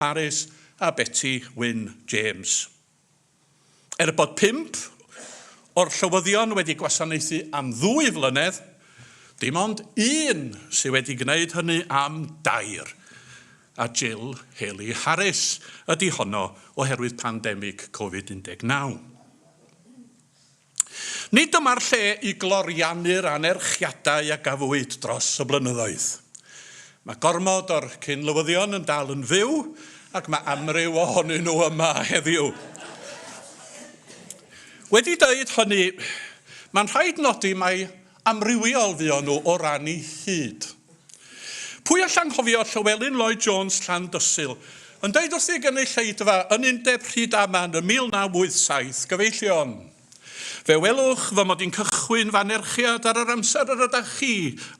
Harris a Betty Wyn James. Er bod pump o'r llywyddion wedi gwasanaethu am ddwy flynedd, dim ond un sydd wedi gwneud hynny am dair, a Jill Haley Harris ydy honno oherwydd pandemig Covid 19. Nid dyma'r lle i gloriannu'r anerchiadau a gafwyd dros y blynyddoedd. Mae gormod o'r cyn-lywyddion yn dal yn fyw ac mae amryw ohonyn nhw yma heddiw. Wedi dweud hynny, mae'n rhaid nodi mai Amrywiol fuon nhw o ran eu hyd. Pwy all anghofio Llywelyn Lloyd Jones, Llandysul, yn deud wrth ei gynulleidfa yn Undeb Rhydaman ym 1987, Gyfeillion, fe welwch fy mod i'n cychwyn fy anerchiad ar yr amser yr ydach chi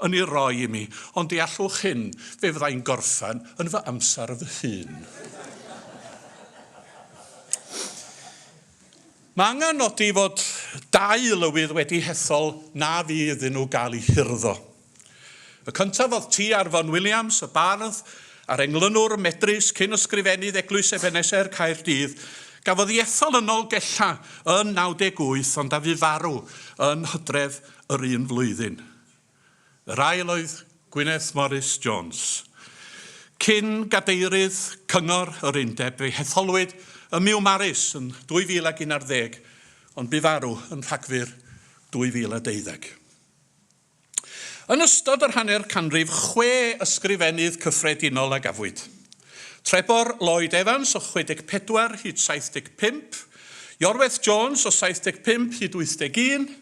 yn ei roi i mi, ond deallwch hyn, fe fydda i'n gorffen yn fy amser fy hun. Mae angen nodi fod dau lywydd wedi hethol na fu iddyn nhw gael eu hurddo. Y cyntaf oedd T. Arfon Williams, y bardd a'r englynwr medrus, cyn Ysgrifennydd Eglwys Ebeneser, Caerdydd. Gafodd ei ethol yn Nolgella yn 98 ond a fu farw yn Hydref yr un flwyddyn. Yr ail oedd Gwyneth Morris Jones, cyn gadeirydd Cyngor yr Undeb. Fe'i hetholwyd ym Miwmaris yn 2011 ar ddeg, ond bu farw yn Rhagfyr 2012. Yn ystod yr hanner canrif, chwe Ysgrifennydd Cyffredinol a gafwyd. Trebor Lloyd Evans o 64 hyd 75, Iorwerth Jones o 75 hyd 81,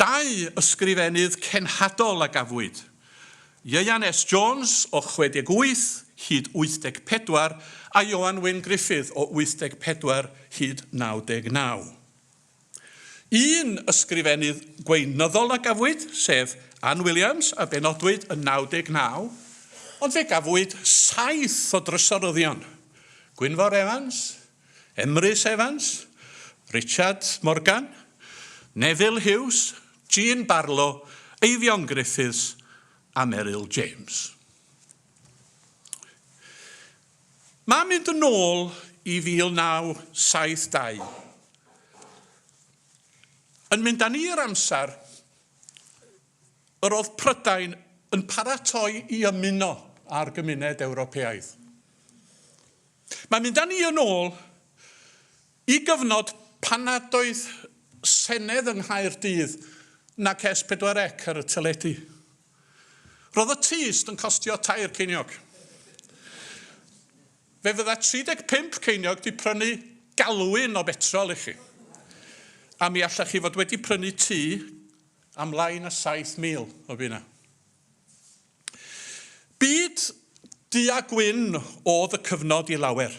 Dau ysgrifennydd cenhadol a gafwyd, Ieuan S. Jones o 68 hyd 84 a Ioan Wyn Gruffydd o 84 hyd 99. Un ysgrifennydd gweinyddol a gafwyd, sef Ann Williams a benodwyd yn 99, ond fe gafwyd saith o drysoryddion, Gwynfor Evans, Emrys Evans, Richard Morgan, Neville Hughes, Jean Barlow, Eifion Griffiths a Meryl James. Mae'n mynd yn ôl i 1972. Yn mynd â ni i'r amser yr oedd Prydain yn paratoi i ymuno â'r gymuned Ewropeaidd. Mae'n mynd â ni yn ôl i gyfnod pan nad oedd Senedd yng Nghaerdydd nac S4C ar y teledu. Roedd y tyst yn costio tair ceiniog. Fe fydda 35 ceiniog 'di prynu galwyn o betrol i chi, a mi allech chi fod wedi prynu tŷ am lai na 7,000 o bunnau. Byd du a gwyn oedd y cyfnod i lawer.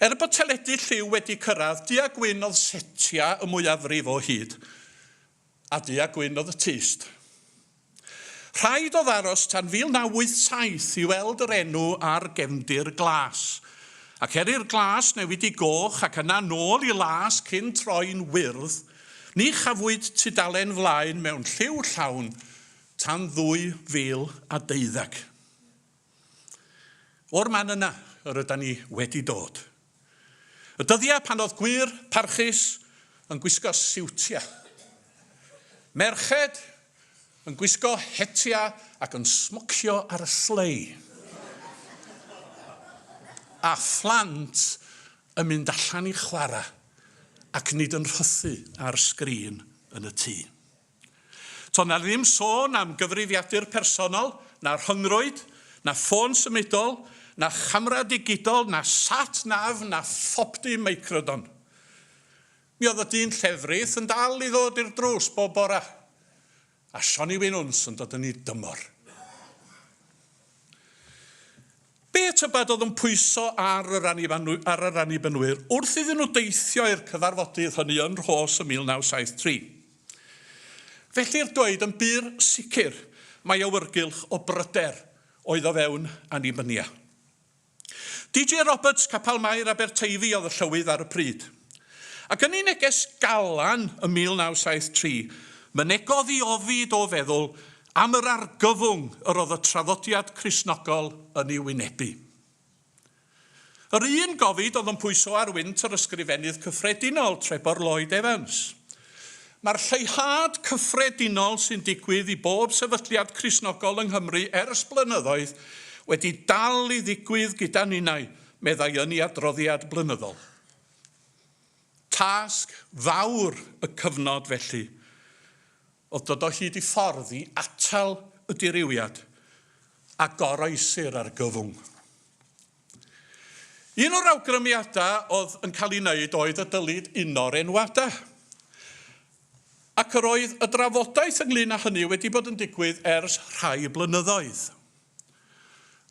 Er bod teledu lliw wedi cyrraedd, du a gwyn oedd setia y mwyafrif o hyd, a du a gwyn oedd y tyst. Rhaid oedd aros tan 1987 i weld yr enw ar gefndir glas, ac er i'r glas newid i goch ac yna nôl i las cyn troi'n wyrdd, ni chafwyd tudalen flaen mewn lliw llawn tan 2012. O'r man yna yr yda ni wedi dod. Y dyddiau pan oedd gwŷr parchus yn gwisgo siwtiau. Merched yn gwisgo hetia ac yn smocio ar y slei. A phlant yn mynd allan i chwarae ac nid yn rhythu ar sgrin yn y tŷ. To' 'na ddim sôn am gyfrifiadur personol, na rhyngrwyd, na ffôn symudol, na chamera digidol, na sat nav, na phopty meicrodon. Mi oedd y dyn llefrith yn dal i ddod i'r drws bob bora, a Sionny Wyn Wnws yn dod yn 'i dymor. Be tybed oedd yn pwyso ar yr Annibynwy- ar yr Annibynwyr wrth iddyn nhw deithio i'r cyfarfodydd hynny yn Rhos ym 1973? Felly'r dweud yn bur sicr mai awyrgylch o bryder oedd o fewn Annibynia. DJ Roberts, Capel Mair, Aberteifi oedd y llywydd ar y pryd. Ac yn ei neges galan ym 1973, mynegodd i ofid o feddwl am yr argyfwng yr oedd y traddodiad Cristnogol yn ei wynebu. Yr un gofid oedd yn pwyso ar wynt yr Ysgrifennydd Cyffredinol, Trebor Lloyd Evans. Mae'r lleihad cyffredinol sy'n digwydd i bob sefydliad Cristnogol yng Nghymru ers blynyddoedd wedi dal i ddigwydd gyda ninnau, meddai yn ei adroddiad blynyddol. Tasg fawr y cyfnod felly oedd dod o hyd i ffordd i atal y dirywiad a goroesir argyfwng. Un o'r awgrymiadau oedd yn cael ei wneud oedd y dylid uno'r enwadau. Ac yr oedd y drafodaeth ynglŷn â hynny wedi bod yn digwydd ers rhai blynyddoedd.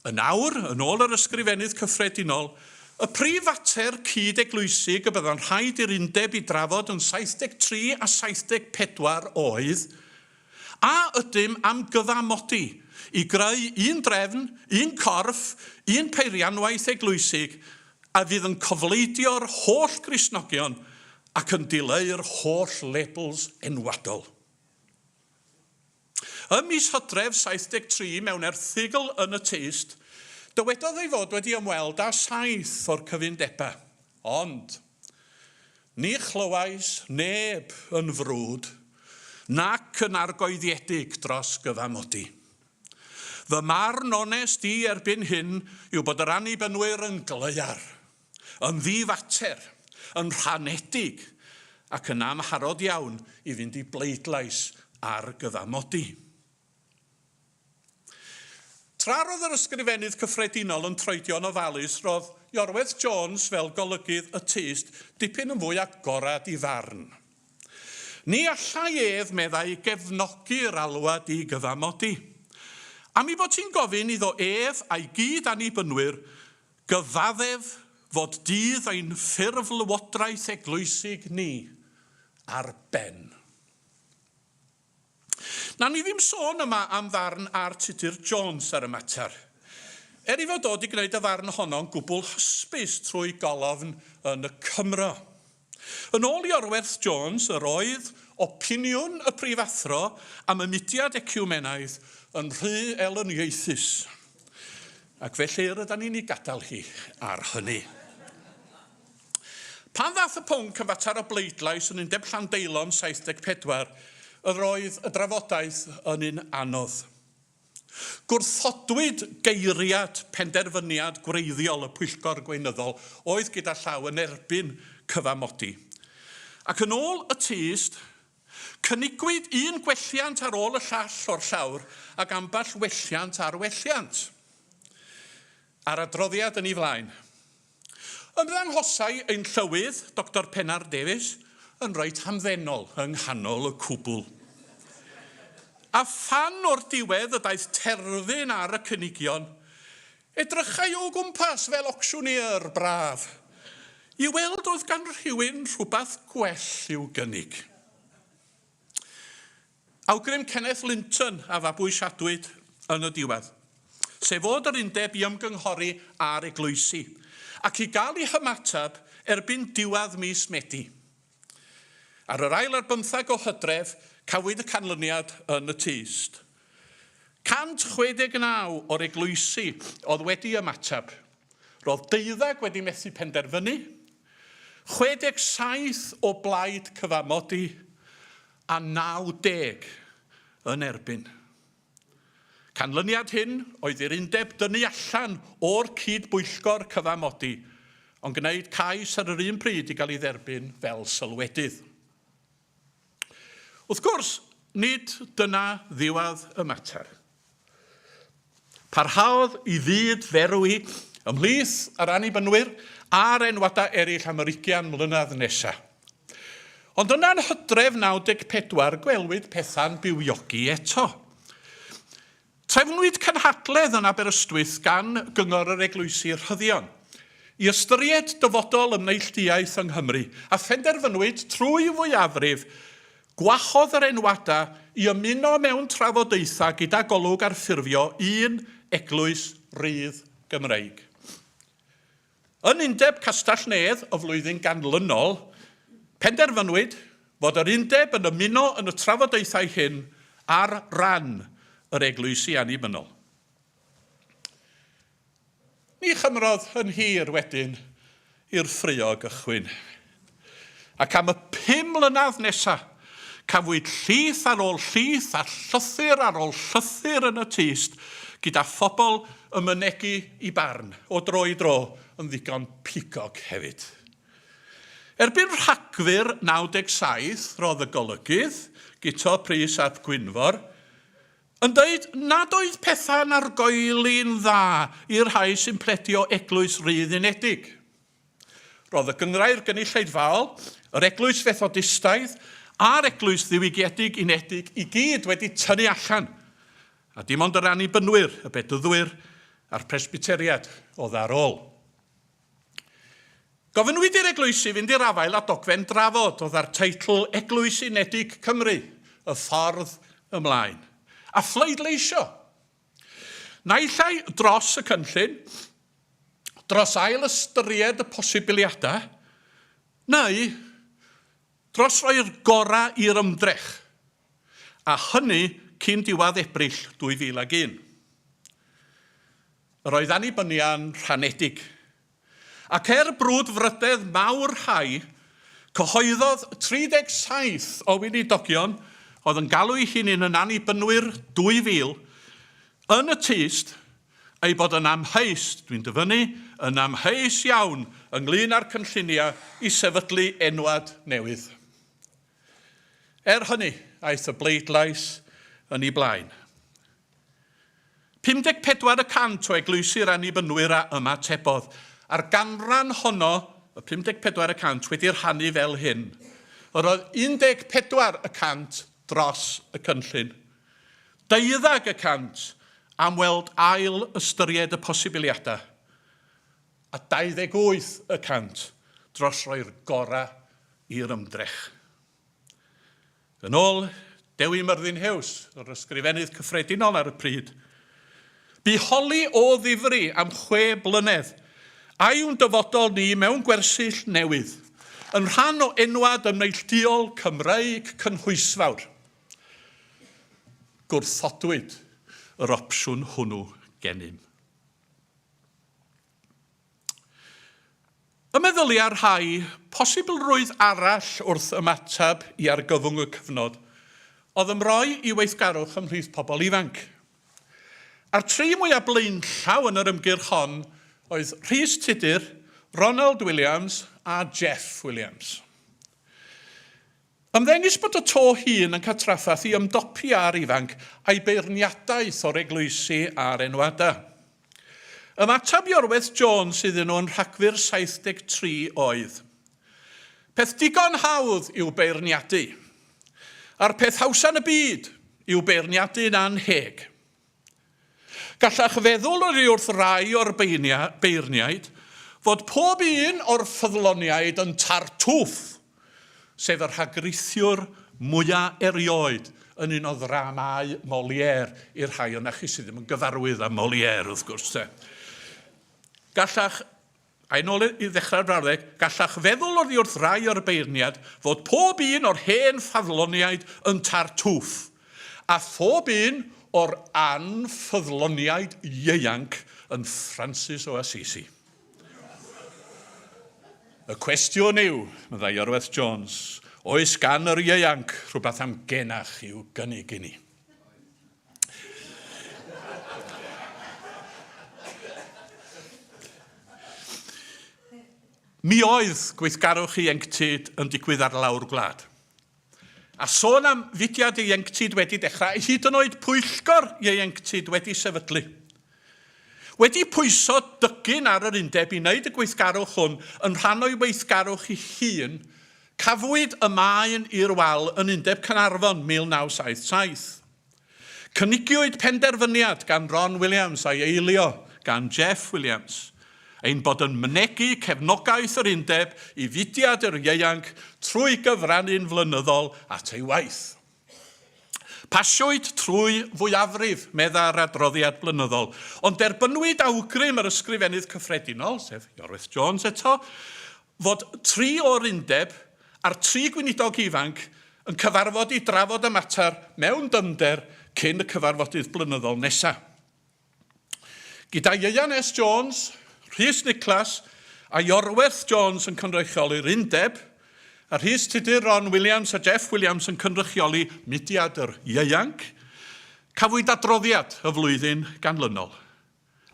Yn awr, yn ôl yr Ysgrifennydd Cyffredinol, y prif fater cyd-eglwysig y bydda'n rhaid i'r undeb i drafod yn 73 a 74 oedd A ydym am gyfamodi i greu un drefn, un corff, un peirianwaith eglwysig a fydd yn cofleidio'r holl Gristnogion ac yn dileu'r holl labels enwadol? Ym mis Hydref 73, mewn erthygl yn y Tyst, dywedodd ei fod wedi ymweld â saith o'r cyfundebau, ond, Ni chlywais neb yn frwd nac yn argoeddiedig dros gyfamodi. Fy marn onest i erbyn hyn yw bod yr Annibynwyr yn gleuar, yn ddifater, yn rhanedig ac yn amharod iawn i fynd i bleidlais ar gyfamodi. Tra roedd yr Ysgrifennydd Cyffredinol yn troedio'n ofalus roedd Iorwerth Jones fel golygydd y tyst dipyn yn fwy agored i farn. Ni allai ef, meddai, gefnogi yr alwad i gyfamodi. Am ei bod hi'n gofyn iddo ef a'i gyd Annibynwyr gyfaddef fod dydd ein ffurflywodraeth eglwysig ni ar ben. Nawn ni ddim sôn yma am ddarn ar Tudur Jones ar y mater. Er ei fod o 'di gwneud y ddarn honno'n gwbl hysbys trwy golofn yn y Cymro. Yn ôl Iorwerth Jones, yr oedd opiniwn y Prifathro am y mudiad eciwmenaidd yn rhy elyniaethus. Ac felly rydan ni'n ei gadael hi ar hynny. Pan ddaeth y pwnc am fater o bleidlais yn Undeb Llandeilon 74, yr oedd y drafodaeth yn un anodd. Gwrthodwyd geiriad penderfyniad gwreiddiol y Pwyllgor Gweinyddol oedd gyda llaw yn erbyn cyfamodi. Ac yn ôl y tyst, cynigwyd un gwelliant ar ôl y llall o'r llawr ac ambell welliant ar welliant. A'r adroddiad yn ei flaen. Ymddangosai ein Llywydd, Doctor Pennar Davies, yn reit hamddenol yng nghanol y cwbl. A phan o'r diwedd y daeth terfyn ar y cynigion, edrychai o gwmpas fel ocsiwnier braf, i weld oedd gan rhywun rhywbeth gwell i'w gynnig. Awgrym Kenneth Linton a fabwysiadwyd yn y diwedd, sef fod yr undeb i ymgynghori â'r eglwysi, ac i gael ei hymateb erbyn diwedd mis Medi. Ar yr ail ar bymtheg o Hydref cafwyd y canlyniad yn y tyst. 169 o'r eglwysi oedd wedi ymateb, roedd deuddeg wedi methu penderfynu, 67 o blaid cyfamodi, a 90 yn erbyn. Canlyniad hyn oedd i'r undeb dynnu allan o'r cyd-bwyllgor cyfamodi, ond gwneud cais ar yr un pryd i gael ei dderbyn fel sylwedydd. Wrth gwrs, nid dyna ddiwedd y mater. Parhaodd i fyd ferwi ymhlith yr Annibynwyr a'r enwadau eraill am yr ugian mlynedd nesaf. Ond yna yn hydref 94 gwelwyd pethau'n bywiogi eto. Trefnwyd cynhadledd yn Aberystwyth gan Gyngor yr Eglwysi Rhyddion i ystyried dyfodol y neilltuaeth yng Nghymru a phenderfynwyd trwy fwyafrif Gwahodd yr enwadau i ymuno mewn trafodaethau gyda Golwg ar ffurfio un eglwys rydd Gymreig. Yn Undeb Castell-nedd y flwyddyn ganlynol, penderfynwyd fod yr Undeb yn ymuno yn y trafodaethau hyn ar ran yr Eglwysi Annibynnol. Ni chymrodd yn hir wedyn i'r ffraeo gychwyn, ac am y pum mlynedd nesa, cafwyd llith ar ôl llith a llythyr ar ôl llythyr yn y tyst, gyda phobl yn mynegi i barn, o dro i dro, yn ddigon pigog hefyd. Erbyn Rhagfyr 97, rodd y golygydd, Guto Prys ap Gwynfor, Yn deud nad oedd pethau'n argoeli'n dda i'r rhai sy'n pledio Eglwys Rydd Unedig. Roedd y Gynghrair Gynulleidfaol, yr Eglwys Fethodistaidd a'r Eglwys Ddiwygiedig Unedig i gyd wedi tynnu allan, a dim ond yr Annibynwyr, y Bedyddwyr a'r Presbyteriad oedd ar ôl. Gofynnwyd i'r eglwysi fynd i'r afael â dogfen drafod oedd â'r teitl 'Eglwys Unedig Cymru, Y Ffordd Ymlaen', a phleidleisio, naill ai dros y cynllun, dros ail-ystyried y posibiliadau, neu Dros roi'r gorau i'r ymdrech, a hynny cyn diwedd Ebrill 2001. Yr oedd annibynia'n rhanedig, ac er brwdfrydedd mawr rhai, cyhoeddodd 37 o weinidogion oedd yn galw'u hunin yn Annibynwyr 2000 yn y tyst ei bod yn amheus, dwi'n dyfynnu, yn amheus iawn ynglŷn â'r cynlluniau i sefydlu enwad newydd. Er hynny, aeth y bleidlais yn ei blaen. 54 y cant o eglwysi'r Annibynwyr a ymatebodd, a'r ganran honno, y 54 y cant, wedi rhannu fel hyn, Yr oedd 14 y cant dros y cynllun. Deuddag y cant am weld ail ystyried y posibiliadau, a 28 y cant dros roi'r gorau i'r ymdrech. Yn ôl Dewi Myrddin-Huws, yr Ysgrifennydd Cyffredinol ar y pryd, Bu holi o ddifri am chwe blynedd, a yw'n dyfodol ni mewn gwersyll newydd, yn rhan o enwad yn neillduol Cymreig cynhwysfawr. Gwrthodwyd yr opsiwn hwnnw gennym. Y meddylia rhai posibilrwydd arall wrth ymateb i argyfwng y cyfnod oedd ymroi i weithgarwch ymhlith pobl ifanc. A'r tri mwyaf blaenllaw yn yr ymgyrch hon oedd Rhys Tudur, Ronald Williams a Jeff Williams. Ymddengys bod y to hŷn yn cael trafferth i ymdopi â'r ifanc a'i beirniadaeth o'r eglwysi a'r enwada. Ymateb Iorwerth Jones iddyn nhw yn Rhagfyr 73 oedd, Peth digon hawdd yw beirniadu. A'r peth hawsa yn y byd yw beirniadu'n annheg. Gallech feddwl oddiwrth rai o'r beirniaid fod pob un o'r ffyddloniaid yn Tartuffe, sef y rhagrithwr mwya erioed yn un o ddramâu Molière, i'r rhai o'na chi sydd ddim yn gyfarwydd â Molière, wrth gwrs, 'te. Gallech A yn ôl i ddechrau'r brawddeg, gallech feddwl oddi wrth rai o'r beirniad fod pob un o'r hen ffyddloniaid yn Tartuffe, a phob un o'r anffyddloniaid ieuanc yn Ffrancis o Assisi. Y cwestiwn yw, meddai Iorwerth Jones, oes gan yr ieuanc rhywbeth am genach i'w gynnig i ni? Mi oedd gweithgarwch ieuenctid yn digwydd ar lawr gwlad. A sôn am fudiad ieuenctid wedi dechrau, hyd yn oed pwyllgor ieuenctid wedi sefydlu. Wedi pwyso dygyn ar yr undeb i wneud y gweithgarwch hwn yn rhan o'i weithgarwch ei hun Cafwyd y maen i'r wal yn Undeb Caernarfon 1977. Cynigiwyd penderfyniad gan Ron Williams a'i eilio gan Jeff Williams ein bod yn mynegi cefnogaeth yr Undeb i fudiad yr ieuanc trwy gyfrannu'n flynyddol at ei waith. Pasiwyd trwy fwyafrif, meddai'r adroddiad blynyddol, ond derbynwyd awgrym yr Ysgrifennydd Cyffredinol, sef Iorwerth Jones eto, fod tri o'r undeb a'r tri gweinidog ifanc yn cyfarfod i drafod y mater mewn dyfnder cyn y cyfarfodydd blynyddol nesaf. Gyda Ieuan S Jones, Rhys Niclas a Iorwerth Jones yn cynrychioli'r Undeb, a Rhys Tudur, Ron Williams a Jeff Williams yn cynrychioli mudiad yr ieuanc, cafwyd adroddiad y flwyddyn ganlynol.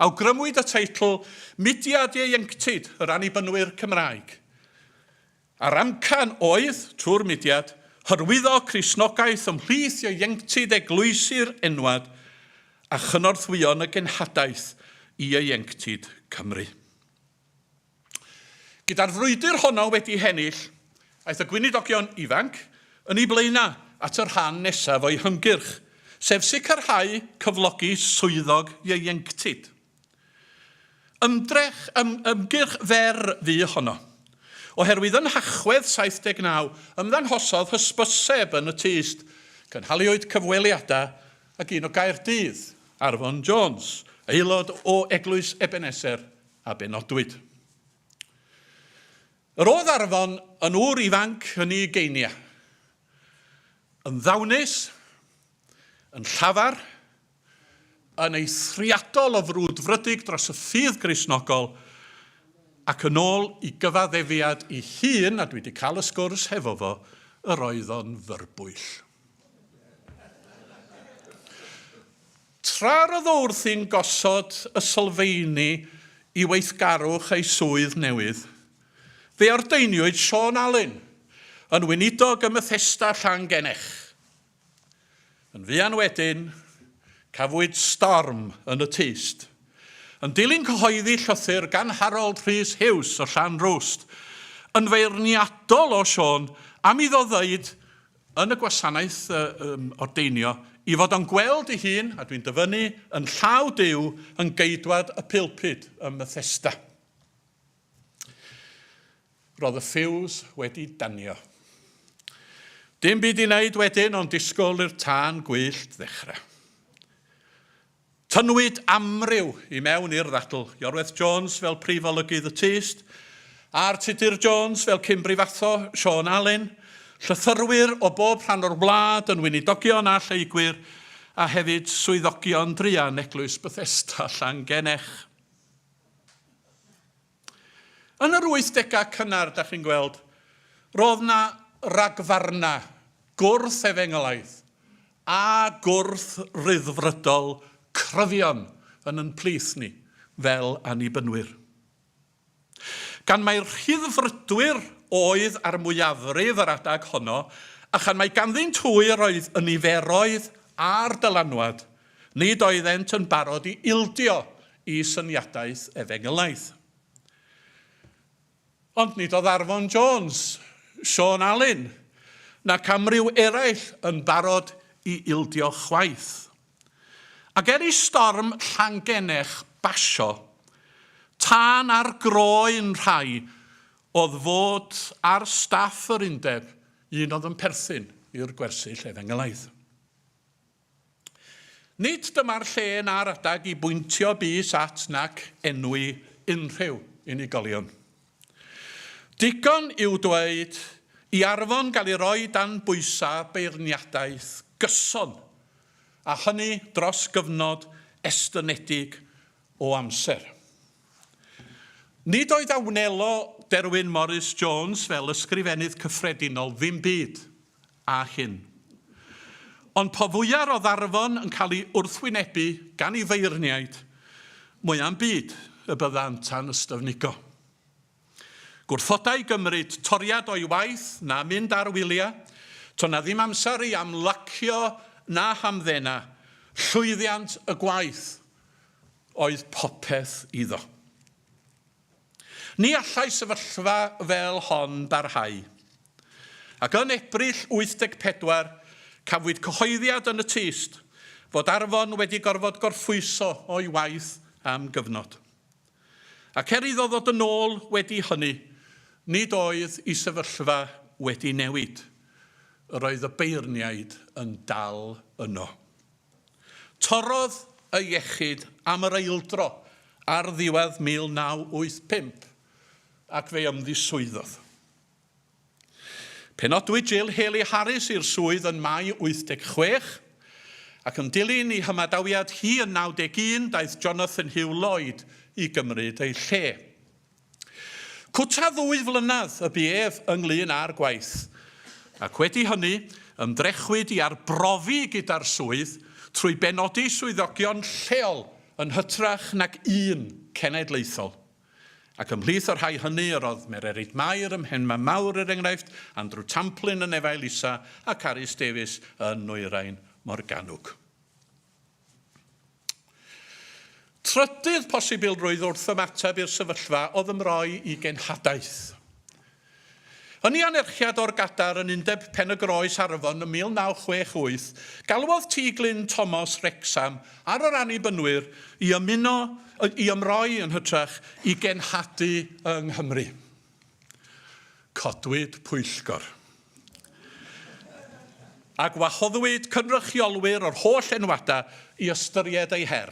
Awgrymwyd y teitl Mudiad Ieuenctid yr Annibynwyr Cymraeg. A'r amcan oedd, trwy'r mudiad, hyrwyddo Cristnogaeth ymhlith ieuenctid eglwysi'r enwad a chynorthwyo yn y genhadaeth i ieuenctid Cymru. Gyda'r frwydr honno wedi hennill, aeth y Gweinidogion ifanc yn eu blaenau at y rhan nesaf o'i hymgyrch, sef sicrhau cyflogi swyddog ieuenctid. Ymdrech, ym, ymgyrch fer fu honno. Oherwydd yn Nhachwedd 79, ymddanghosodd hysbyseb yn y tyst, cynhaliwyd cyfweliadau ag un o Gaerdydd, Arfon Jones, aelod o Eglwys Ebeneser, a benodwyd. Yr oedd Arfon yn ŵr ifanc yn ei ugeiniau, yn ddawnus, yn llafar, yn eithriadol o frwdfrydig dros y ffydd Gristnogol ac yn ôl i gyfaddefiad ei hun, a dwi 'di cael y sgwrs hefo fo, yr oedd o'n fyrbwyll. Tra roedd o wrthi'n gosod y sylfeini i weithgarwch ei swydd newydd, fe ordeiniwyd Siôn Alun yn weinidog ym Methesda Llangennech. Yn fuan wedyn, cafwyd storm yn y tyst. Yn dilyn cyhoeddi llythyr gan Harold Rhys Hughes o Llanrwst, yn feirniadol o Siôn am iddo ddeud yn y gwasanaeth ordeinio i fod o'n gweld ei hun, a dwi'n dyfynnu, yn llaw Duw yn geidwad y pulpud ym Methesda. Roedd y ffiws wedi danio. Dim byd i wneud wedyn ond disgwyl i'r tân gwyllt ddechrau. Tynnwyd amryw i mewn i'r ddadl, Iorwerth Jones fel prif olygydd y tyst, a'r Tudur Jones fel cyn brifathro, Siôn Alun, llythyrwyr o bob rhan o'r wlad yn weinidogion a lleygwyr, a hefyd swyddogion druan Eglwys Bethesda Llangennech. Yn yr wythdegau cynnar, da chi'n gweld, roedd 'na ragfarnau gwrth-efengelaidd a gwrth-Ryddfrydol cryfion yn yn plith ni fel Annibynwyr. Gan mai'r Rhyddfrydwyr oedd ar mwyafrif yr adeg honno, a chan mai ganddynt hwy yr oedd y niferoedd a'r dylanwad, Nid oeddent yn barod i ildio i syniadaeth efengylaidd. Ond nid oedd Arfon Jones, Siôn Alun, nac amryw eraill yn barod i ildio chwaith. Ac er i storm Llangennech basio, tân ar groen rhai oedd fod ar staff yr undeb un oedd yn perthyn i'r gwersyll efengylaidd. Nid dyma'r lle na'r adeg i bwyntio bys at nac enwi unrhyw unigolion. Digon yw dweud i Arfon gael ei roi dan bwysa beirniadaeth gyson, a hynny dros gyfnod estynedig o amser. Nid oedd a wnelo Derwyn Morris Jones fel Ysgrifennydd Cyffredinol ddim byd a hyn. Ond po fwyaf o ddarfon yn cael ei wrthwynebu gan ei feirniaid, mwya'm byd y byddant a'n ystyfnigo. Gwrthodai gymryd toriad o'i waith na mynd ar wylia, to' na ddim amser i amlacio na hamddena, llwyddiant y gwaith oedd popeth iddo. Ni allai sefyllfa fel hon barhau. Ac yn Ebrill 84, cafwyd cyhoeddiad yn y tyst fod Arfon wedi gorfod gorffwyso o'i waith am gyfnod. Ac er iddo ddod yn ôl wedi hynny, nid oedd i sefyllfa wedi newid. Yr oedd y beirniaid yn dal yno. Torrodd y iechyd am yr eildro ar ddiwedd 1985 ac fe ymddiswyddodd. Penodwyd Jill Haley Harris i'r swydd yn Mai 86, ac yn dilyn i hymadawiad hi yn 91 daeth Jonathan Hugh Lloyd i gymryd ei lle. Cwta ddwy flynedd y bu ef ynglŷn â'r gwaith, ac wedi hynny, ymdrechwyd i arbrofi gyda'r swydd trwy benodi swyddogion lleol yn hytrach nag un cenedlaethol. Ac ymhlith y rhai hynny yr oedd Mererid Mair ym Mhenmaenmawr, er enghraifft, Andrew Tamplin yn Efail Isa, a Carys Davies yn Nwyrain Morgannwg. Trydydd posibilrwydd wrth ymateb i'r sefyllfa oedd ymroi i genhadaeth. Yn ei anerchiad o'r Gadar yn Undeb Pen-y-groes Arfon ym 1968, galwodd Tŷ Glyn Tomos, Wrecsam, ar yr Annibynwyr i ymuno, i ymroi yn hytrach, i genhadu yng Nghymru. Codwyd pwyllgor. a gwahoddwyd cynrychiolwyr o'r holl enwadau i ystyried eu her.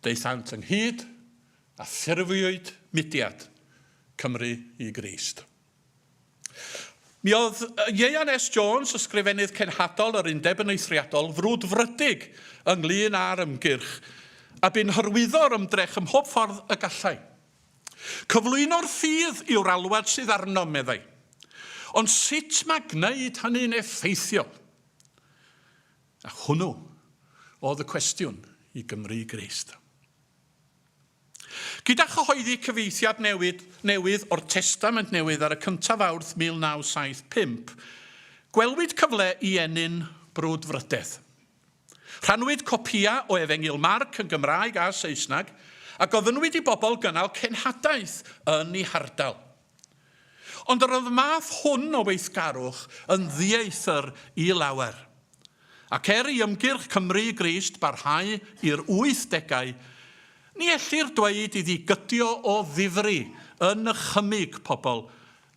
Daethant ynghyd a ffurfiwyd mudiad, Cymru i Grist. Mi oedd Ieuan S Jones, Ysgrifennydd Cenhadol yr Undeb yn eithriadol frwdfrydig ynglŷn â'r ymgyrch, a bu'n hyrwyddo'r ymdrech ym mhob ffordd y gallai. Cyflwyno'r ffydd yw'r alwad sydd arnom, meddai. Ond sut mae gwneud hynny'n effeithiol? A hwnnw oedd y cwestiwn i Gymry Grist. Gyda chyhoeddi cyfieithiad newid, newydd o'r Testament Newydd ar y cyntaf Fawrth 1975, gwelwyd cyfle i ennyn brwdfrydedd. Rhannwyd copïau o Efengyl Marc yn Gymraeg a Saesneg a gofynnwyd i bobl gynnal cenhadaeth yn eu hardal. Ond yr oedd y math hwn o weithgarwch yn ddieithr i lawer. Ac er i ymgyrch Cymru i Grist barhau i'r wythdegau, ni ellir dweud iddi gydio o ddifri yn nychymyg pobl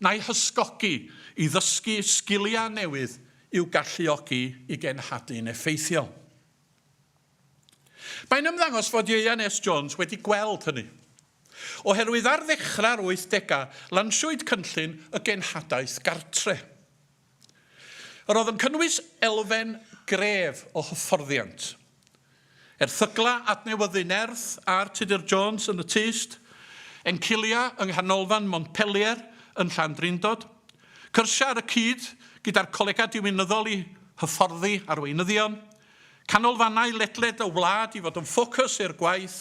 na'i hysgogi i ddysgu sgiliau newydd i'w galluogi i genhadlu'n effeithiol. Mae'n ymddangos fod Ieuan S Jones wedi gweld hynny, oherwydd ar ddechrau'r wythdegau lansiwyd cynllun y genhadaeth gartre'. Yr oedd yn cynnwys elfen gref o hyfforddiant Erthyglau adnewyddu nerth ar Tudur Jones yn y tyst, Encilia yng Nghanolfan Montpellier yn Llandrindod, cyrsiau ar y cyd gyda'r Colegau Diwinyddol i hyfforddi arweinyddion, canolfannau ledled y wlad i fod yn ffocws i'r gwaith,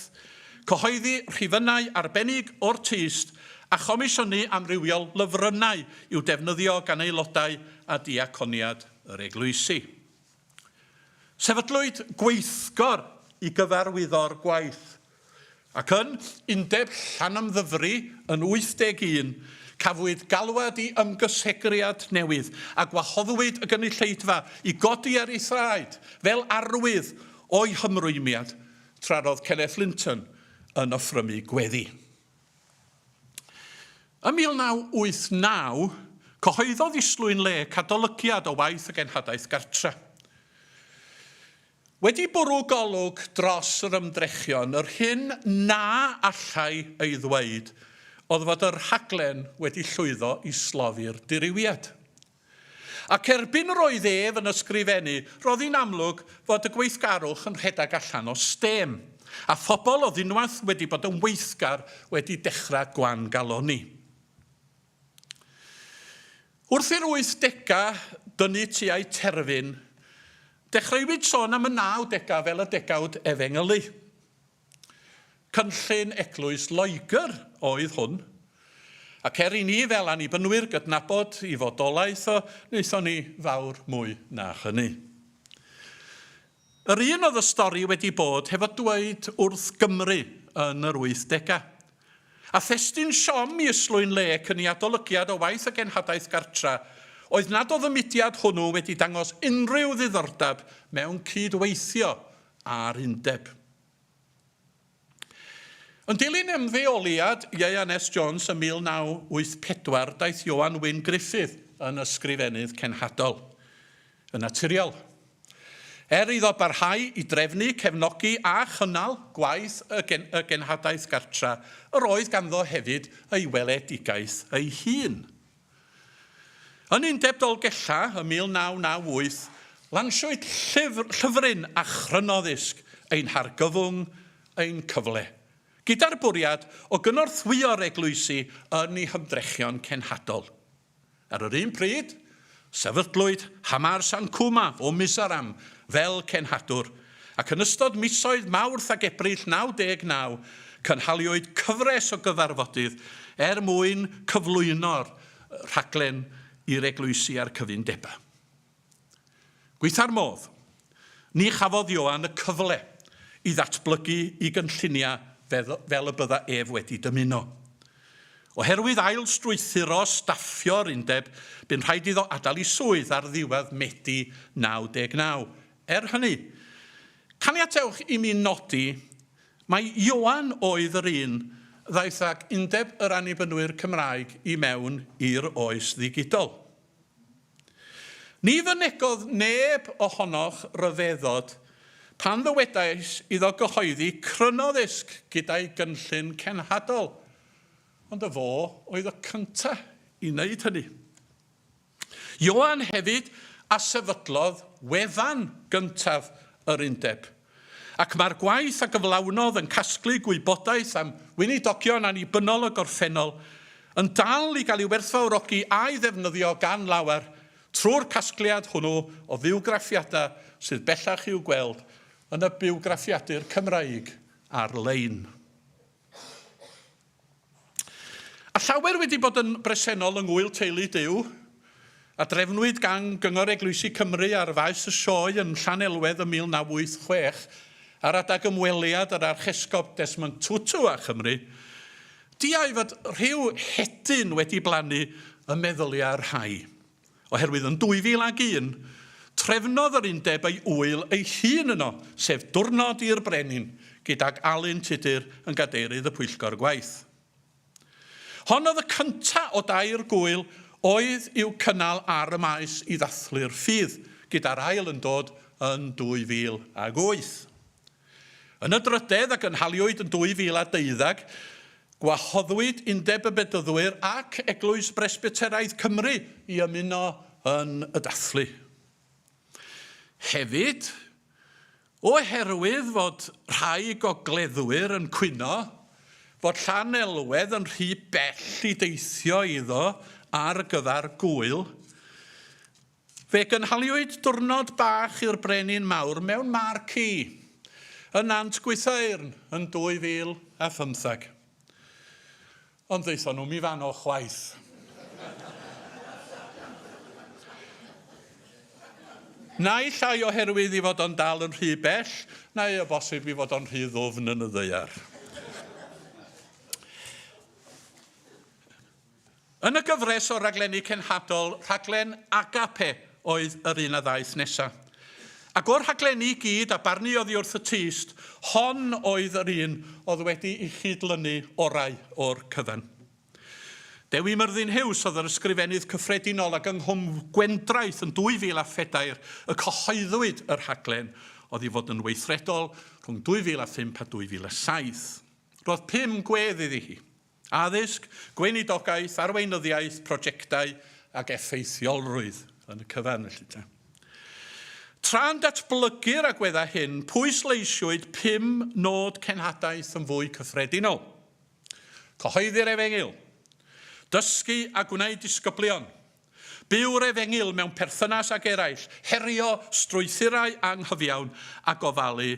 cyhoeddi rhifynnau arbennig o'r tyst a chomisiynu amrywiol lyfrynnau i'w defnyddio gan aelodau a diaconiad yr eglwysi. Sefydlwyd gweithgor i gyfarwyddo'r gwaith, ac yn Undeb Llanymddyfri yn 81, cafwyd galwad i ymgysegriad newydd, a gwahoddwyd y gynulleidfa i godi ar ei thraed fel arwydd o'i hymrwymiad, tra roedd Kenneth Linton yn offrymu gweddi. Ym 1989, cyhoeddodd Islwyn Lake adolygiad o waith y Genhadaeth Gartre. Wedi bwrw golwg dros yr ymdrechion, yr hyn na allai ei ddweud oedd fod y rhaglen wedi llwyddo i slofi'r dirywiad. Ac erbyn yr oedd ef yn ysgrifennu, roedd hi'n amlwg fod y gweithgarwch yn rhedeg allan o stêm, a phobl oedd unwaith wedi bod yn weithgar wedi dechrau gwan-galonni. Wrth i'r wythdegau dynnu tua'i terfyn, dechreuwyd sôn am y nawdegau fel y degawd efengylu. Cynllun Eglwys Loegr oedd hwn, ac er i ni fel Annibynwyr gydnabod ei fodolaeth o, wnaethon ni fawr mwy na hynny. Yr un oedd y stori wedi bod hefo dweud wrth Gymru yn yr wythdegau. A thestun siom i Islwyn Lake yn ei adolygiad o waith y genhadaeth gartra oedd nad oedd y mudiad hwnnw wedi dangos unrhyw ddiddordeb mewn cyd-weithio a'r Undeb. Yn dilyn ymddeoliad Ieuan S Jones ym 1984 daeth Ioan Wyn Gruffydd yn Ysgrifennydd Cenhadol. Yn naturiol. Er iddo barhau i drefnu, cefnogi a chynnal gwaith y y Genhadaeth Gartra, yr oedd ganddo hefyd ei weledigaeth ei hun. Yn Undeb Dolgella ym 1998, lansiwyd llyfr, llyfryn a chrynoddisg Ein Hargyfwng, Ein Cyfle, gyda'r bwriad o gynorthwyo'r eglwysi yn eu hymdrechion cenhadol. Ar yr un pryd, sefydlwyd Hamar San Cuma o Mizoram fel cenhadwr ac yn ystod misoedd Mawrth ac Ebrill 99 cynhaliwyd cyfres o gyfarfodydd er mwyn cyflwyno'r rhaglen i'r eglwysi a'r cyfundebau. Gwaetha'r modd, ni chafodd Ioan y cyfle i ddatblygu i gynlluniau fel y bydda ef wedi dymuno. Oherwydd ail-strwythuro staffio'r undeb, bu'n rhaid iddo adael i swydd ar ddiwedd Medi 99, Er hynny, caniatewch i mi nodi mai Ioan oedd yr un ddaeth ag Undeb yr Annibynwyr Cymraeg i mewn i'r oes ddigidol. Ni fynegodd neb ohonoch ryfeddod pan ddywedais iddo gyhoeddi cryno ddisg gyda'i gynllun cenhadol, ond y fo oedd y cyntaf i wneud hynny. Ioan hefyd a sefydlodd wefan gyntaf yr Undeb, ac mae'r gwaith a gyflawnodd yn casglu gwybodaeth am weinidogion annibynnol y gorffennol yn dal i gael ei werthfawrogi a'i ddefnyddio gan lawer trwy'r casgliad hwnnw o fywgraffiadau sydd bellach i'w gweld yn y bywgraffiadur Cymraeg ar-lein. A llawer wedi bod yn bresennol yng ngŵyl teulu Duw, a drefnwyd gan Gyngor Eglwysi Cymru ar faes y Sioe yn Llanelwedd ym 1986 ar adeg ymweliad yr Archesgob Desmond Tutu â Chymru, diau fod rhyw hedyn wedi blannu ym meddyliau rhai. oherwydd yn 2001, trefnodd yr undeb ei ŵyl ei hun yno, sef Diwrnod i'r Brenin, gydag Alun Tudur yn gadeirydd y pwyllgor gwaith. Hon oedd y cynta o dair gŵyl oedd i'w cynnal ar y Maes i ddathlu'r ffydd, gyda'r ail yn dod yn 2008. Yn y drydedd, a gynhaliwyd yn 2012, gwahoddwyd Undeb y Bedyddwyr ac Eglwys Bresbyteraidd Cymru i ymuno yn y dathlu. Hefyd, oherwydd fod rhai gogleddwyr yn cwyno fod Llanelwedd yn rhy bell i deithio iddo ar gyfer gŵyl, Fe gynhaliwyd diwrnod bach i'r Brenin Mawr mewn marci yn Nant Gwythaeyrn yn 2015. Ond ddaethon nhw'm i fano chwaith. Naill ai oherwydd i fod o'n dal yn rhy bell, neu o bosib i fod o'n rhy ddwfn yn y ddaear. Yn y gyfres o raglenni cenhadol, rhaglen Agape oedd yr un a ddaeth nesa. Ac o'r rhaglenni i gyd a barnu oddi wrth y tyst, hon oedd yr un oedd wedi i chyd-lynu orau o'r cyfan. Dewi Myrddin Huws oedd yr Ysgrifennydd Cyffredinol ac yng Nghwm Gwendraeth yn 2004 y cyhoeddwyd y rhaglen oedd i fod yn weithredol rhwng 2005 a 2007. Roedd pum gwedd iddi hi. Addysg, gweinidogaeth, arweinyddiaeth, projectau ac effeithiolrwydd yn y cyfan felly te. Tra'n datblygu'r agweddau hyn, pwysleisiwyd pum nod cenhadaeth yn fwy cyffredinol. Cyhoeddi'r efengyl. Dysgu a gwneud disgyblion. Byw'r efengyl mewn perthynas ag eraill, herio strwythurau anghyfiawn a gofalu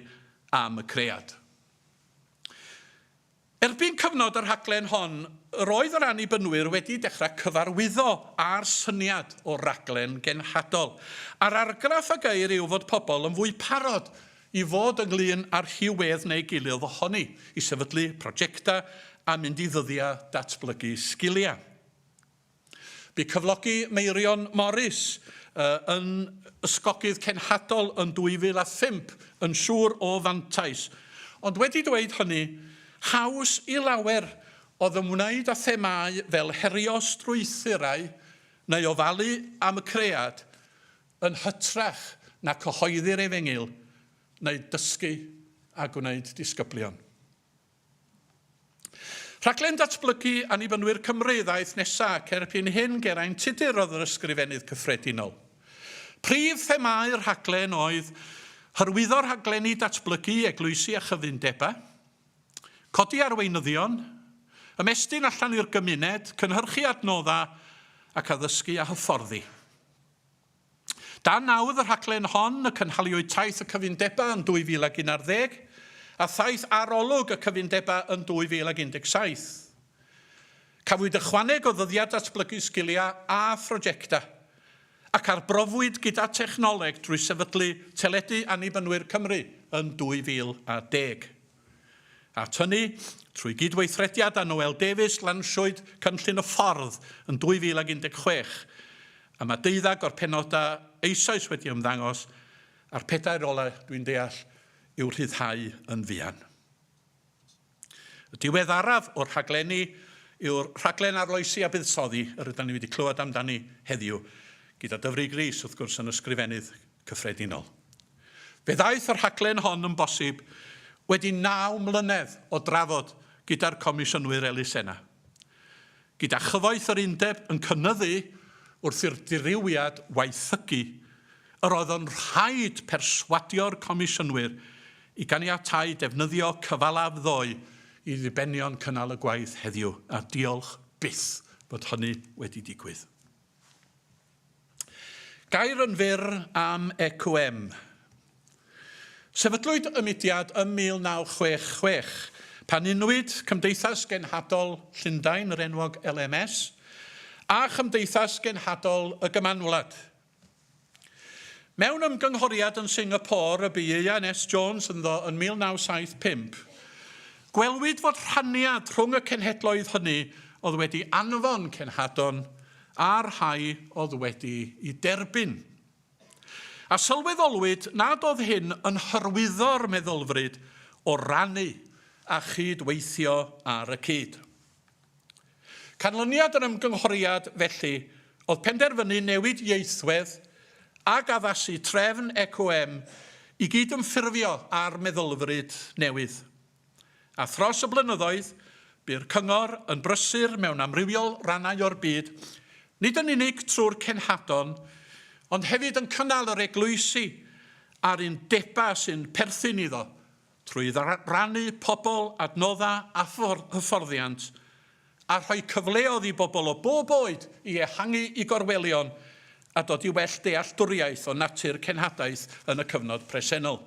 am y cread. Erbyn cyfnod y rhaglen hon, yr oedd yr Annibynwyr wedi dechrau cyfarwyddo â'r syniad o raglen genhadol, a'r argraff a geir yw fod pobl yn fwy parod i fod ynglŷn â rhyw wedd neu gilydd ohoni, i sefydlu projectau a mynd i ddyddiau datblygu sgiliau. Bu cyflogi Meirion Morris yn ysgogydd cenhadol yn 2005 yn siŵr o fantais, ond wedi dweud hynny, haws i lawer oedd ymwneud â themâu fel herio strwythurau neu ofalu am y cread yn hytrach na cyhoeddi'r efengyl neu dysgu a gwneud disgyblion. Rhaglen Datblygu Annibynwyr Cymru ddaeth nesa' ac erbyn hyn ger ein tudur oedd yr Ysgrifennydd Cyffredinol. Prif themâu'r rhaglen oedd hyrwyddo rhaglenni datblygu i eglwysi a chyfundebau, codi arweinyddion, ymestyn allan i'r gymuned, cynhyrchu adnoddau ac addysgu a hyfforddi. Dan nawdd y rhaglen hon y cynhaliwyd taith y cyfundebau yn 2011 a thaith arolwg y cyfundebau yn 2017. Cafwyd ychwaneg o ddyddiad datblygu sgiliau a phrojectau, ac arbrofwyd gyda technoleg drwy sefydlu Teledu Annibynwyr Cymru yn 2010. At hynny, trwy gydweithrediad â Noel Davies lansiwyd Cynllun y Ffordd yn 2016, a mae deuddag o'r penodau eisoes wedi ymddangos, a'r pedair ola', dwi'n deall, i'w rhyddhau yn fuan. Y diweddaraf o'r rhaglenni yw'r rhaglen arloesi a buddsoddi yr ydan ni wedi clywed amdani heddiw, gyda Dyfrig Rees, wrth gwrs, yn Ysgrifennydd Cyffredinol. Fe ddaeth y rhaglen hon yn bosib wedi naw mlynedd o drafod gyda'r Comisiynwyr Elusenau. Gyda chyfoeth yr Undeb yn cynyddu wrth i'r dirywiad waethygu, yr oedd yn rhaid perswadio'r Comisiynwyr i ganiatáu defnyddio cyfalaf ddoe i ddibenion cynnal y gwaith heddiw, a diolch byth fod hynny wedi digwydd. Gair yn fyr am EQM. Sefydlwyd y mudiad ym 1966, pan unwyd Cymdeithas Genhadol Llundain, yr enwog LMS, a Chymdeithas Genhadol y Gymanwlad. Mewn ymgynghoriad yn Singapore y bu Ieuan S. Jones ynddo yn 1975, gwelwyd fod rhaniad rhwng y cenhedloedd hynny oedd wedi anfon cenhadon a'r rhai oedd wedi'i derbyn. A sylweddolwyd nad oedd hyn yn hyrwyddo'r meddylfryd o rannu a chyd-weithio ar y cyd. Canlyniad yr ymgynghoriad, felly, oedd penderfynu newid ieithwedd ac addasu trefn ECOM i gyd-ymffurfio â'r meddylfryd newydd. A thros y blynyddoedd, bu'r Cyngor yn brysur mewn amrywiol rannau o'r byd, nid yn unig trwy'r cenhadon, ond hefyd yn cynnal yr eglwysi a'r undebau sy'n perthyn iddo, trwy rannu pobl, adnoddau a hyfforddiant, a rhoi cyfleodd i bobl o bob oed i ehangu i gorwelion a dod i well dealltwriaeth o natur cenhadaeth yn y cyfnod presennol.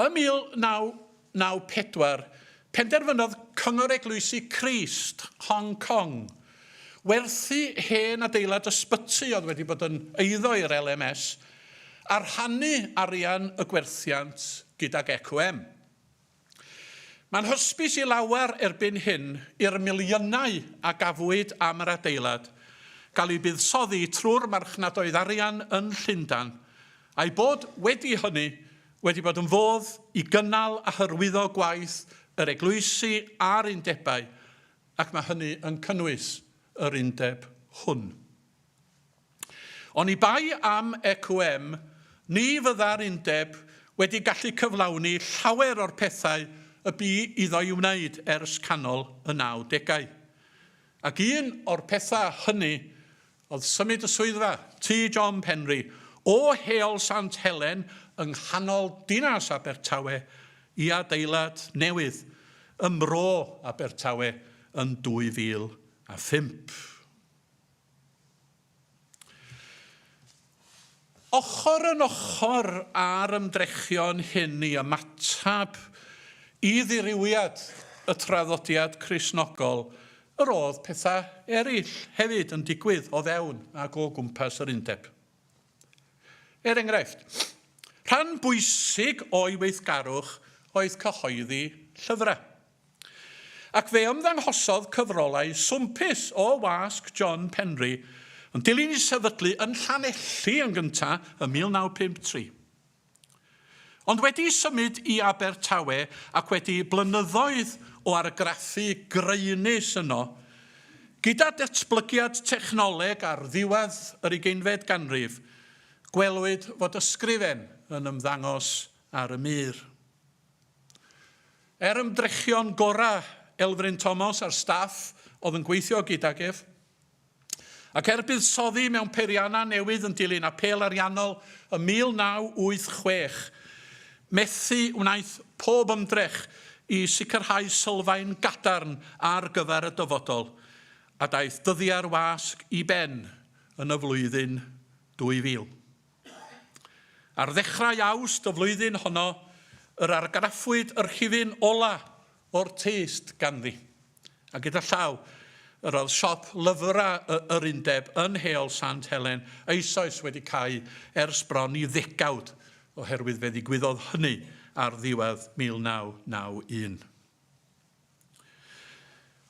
Ym 1994, penderfynodd Cyngor Eglwysi Crist, Hong Kong, werthu hen adeilad ysbyty oedd wedi bod yn eiddo i'r LMS a rhannu arian y gwerthiant gydag EQM. Mae'n hysbys i lawer erbyn hyn i'r miliynau a gafwyd am yr adeilad gael eu buddsoddi trwy'r marchnadoedd arian yn Llundain, a'i bod wedi hynny wedi bod yn fodd i gynnal a hyrwyddo gwaith yr eglwysi a'r undebau, ac mae hynny yn cynnwys yr undeb hwn. Oni bai am EQM, ni fydda'r undeb wedi gallu cyflawni llawer o'r pethau y bu iddo'i wneud ers canol y nawdegau. Ac un o'r pethau hynny oedd symud y swyddfa, Tŷ John Penri, o Heol Sant Helen yng nghanol dinas Abertawe i adeilad newydd ym Mro Abertawe yn 2005. Ochr yn ochr â'r ymdrechion hyn i ymateb i ddirywiad y traddodiad Cristnogol, yr oedd pethau eraill hefyd yn digwydd o fewn ac o gwmpas yr Undeb. Er enghraifft, rhan bwysig o'i weithgarwch oedd cyhoeddi llyfrau, ac fe ymddanghosodd cyfrolau swmpus o wasg John Penry yn dilyn ei sefydlu yn Llanelli yn gyntaf ym 1953. Ond wedi symud i Abertawe ac wedi blynyddoedd o argraffu graenus yno, gyda datblygiad technoleg ar ddiwedd yr ugeinfed ganrif, gwelwyd fod ysgrifen yn ymddangos ar y mur. Er ymdrechion gorau Elfryn Thomas a'r staff oedd yn gweithio gydag ef, Ac er buddsoddi mewn peiriannau newydd yn dilyn apêl ariannol ym 1986, methu wnaeth pob ymdrech i sicrhau sylfaen gadarn ar gyfer y dyfodol, a daeth dyddiau'r wasg i ben yn y flwyddyn 2000. Ar ddechrau Awst y flwyddyn honno, yr argraffwyd y rhifyn ola' o'r tyst ganddi. A gyda llaw, yr oedd siop lyfrau y yr Undeb yn Heol Sant Helen eisoes wedi cau ers bron i ddegawd, oherwydd fe ddigwyddodd hynny ar ddiwedd 1991.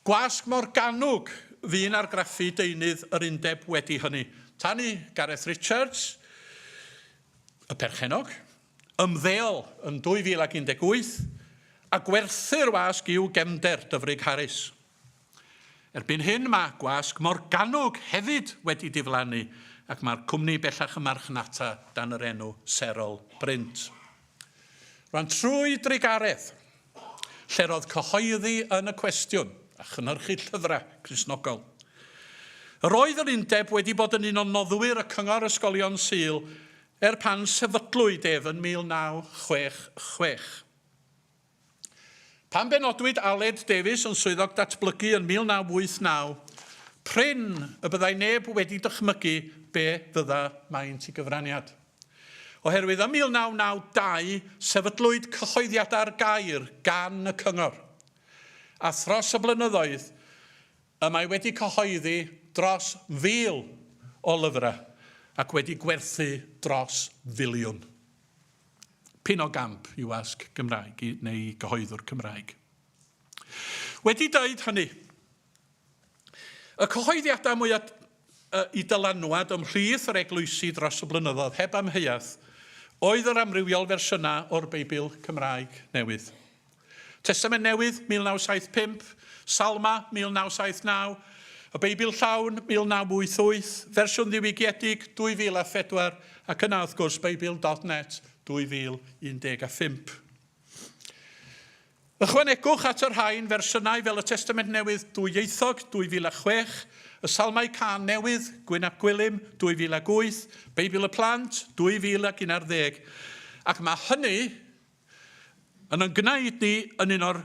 Gwasg Morgannwg fu'n argraffu deunydd yr Undeb wedi hynny, tan i Gareth Richards, y perchennog, ymddeol yn 2018 a gwerthu'r wasg i'w gefnder, Dyfrig Harris. Erbyn hyn mae gwasg Morgannwg hefyd wedi diflannu ac mae'r cwmni bellach yn marchnata dan yr enw Serol Brint. Rwan trwy drugaredd, lle'r oedd cyhoeddi yn y cwestiwn a chynhyrchu llyfrau Cristnogol. Yr oedd yr undeb wedi bod yn un o noddwyr y Cyngor Ysgolion Sul Er pan sefydlwyd ef yn 1966. Pan benodwyd Aled Davies yn Swyddog Datblygu yn 1989, prin y byddai neb wedi dychmygu be fydda maint i gyfraniad. Oherwydd ym 1992 sefydlwyd Cyhoeddiadau'r Gair gan y Cyngor, a thros y blynyddoedd Y mae wedi cyhoeddi dros 1,000 o lyfrau ac wedi gwerthu dros filiwn. P'un o gamp i wasg Gymraeg i neu i gyhoeddwr Cymraeg. Wedi deud hynny, y cyhoeddiadau mwyaf y dylanwad ymhlith yr eglwysi dros y blynyddoedd, heb amheuaeth, oedd yr amrywiol fersiynau o'r Beibl Cymraeg Newydd. Testament Newydd, 1975, Salma, 1979, y Beibl Llawn, 1988, fersiwn ddiwygiedig, 2004, ac yna, wrth gwrs, Beibl.net, 2015. Ychwanegwch at y rhain fersiynau fel y Testament Newydd dwyieithog, 2006, y Salmau Cân Newydd, Gwyn ap Gwilym, 2008, Beibl y Plant, 2011, ac mae hynny yn yn gwneud ni yn un o'r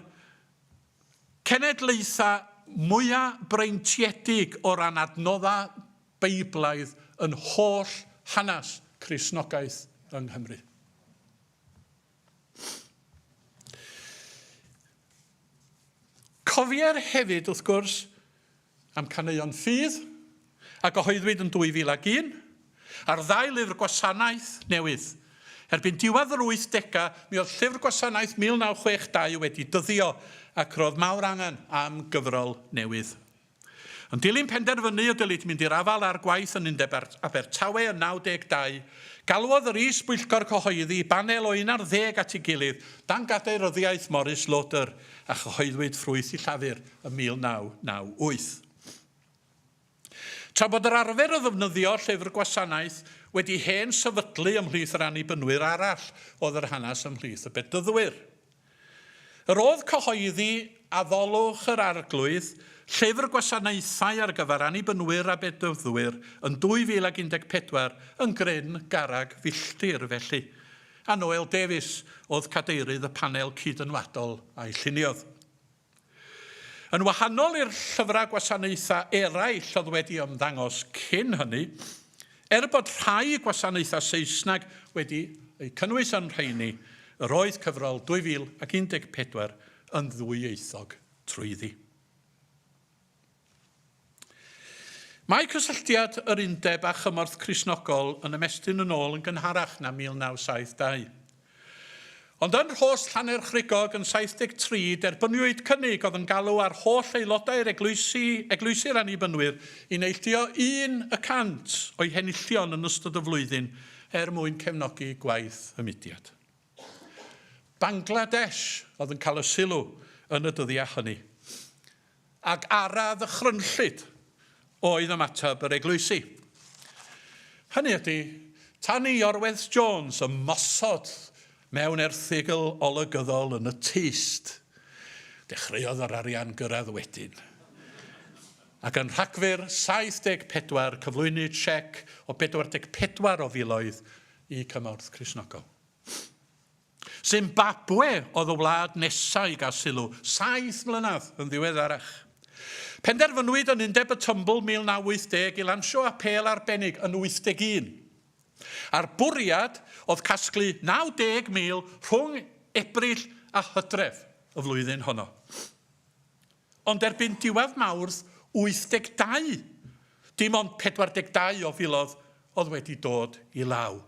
cenedlaethau mwyaf breintiedig o ran adnoddau Beiblaidd yn holl hanes Cristnogaeth yng Nghymru. Cofier hefyd, wrth gwrs, am Caneuon Ffydd, a gyhoeddwyd yn 2001, a'r ddau lyfr gwasanaeth newydd. Erbyn diwedd yr wythdegau, mi oedd Llyfr Gwasanaeth 1962 wedi dyddio, ac roedd mawr angen am gyfrol newydd. Yn dilyn penderfynu y dylid mynd i'r afael â'r gwaith yn Undeb Abertawe yn 92, galwodd yr Is-bwyllgor Cyhoeddi banel o un ar ddeg at ei gilydd dan gadeiryddiaeth Maurice Lauder, a chyhoeddwyd ffrwyth i Llafur ym 1998. Tra bod yr arfer o ddefnyddio llyfr gwasanaeth wedi hen sefydlu ymhlith yr Annibynwyr arall oedd yr hanes ymhlith y Bedyddwyr. Yr oedd cyhoeddi Addolwch yr Arglwydd, Llyfr Gwasanaethau ar gyfer Annibynwyr a Bedyddwyr yn 2014 yn gryn garreg filltir felly, a Noel Davies oedd cadeirydd y panel cyd-ynwadol a'i lluniodd. Yn wahanol i'r llyfrau gwasanaethau eraill oedd wedi ymddangos cyn hynny, er bod rhai gwasanaethau Saesneg wedi eu cynnwys yn rheiny, yr oedd cyfrol 2014 yn ddwyieithog trwyddi. Mae cysylltiad yr Undeb â chymorth Cristnogol yn ymestyn yn ôl yn gynharach na 1972. Ond yn Rhos Llanerchrugog yn 73 derbyniwyd cynnig oedd yn galw ar holl aelodau'r eglwysi, Eglwysi'r Annibynwyr, i neilltuo un y cant o'u henillion yn ystod y flwyddyn er mwyn cefnogi gwaith y mudiad. Bangladesh oedd yn cael y sylw yn y dyddiau hynny, ac ara ddychrynllyd oedd ymateb yr eglwysi. Hynny ydy, tan i Orweth Jones ymosod mewn erthygl olygyddol yn y tyst, dechreuodd yr arian gyrraedd wedyn, ac yn Rhagfyr 74 cyflwynwyd siec o 44 o filoedd y cymorth Cristnogol. Zimbabwe oedd y wlad nesaf i gael sylw, saith mlynedd yn ddiweddarach. Penderfynwyd yn Undeb y Tymbl 1980 i lansio apêl arbennig yn 81. A'r bwriad oedd casglu 90,000 rhwng Ebrill a Hydref y flwyddyn honno. Ond erbyn diwedd Mawrth 82, dim ond 42 o filoedd oedd wedi dod i law.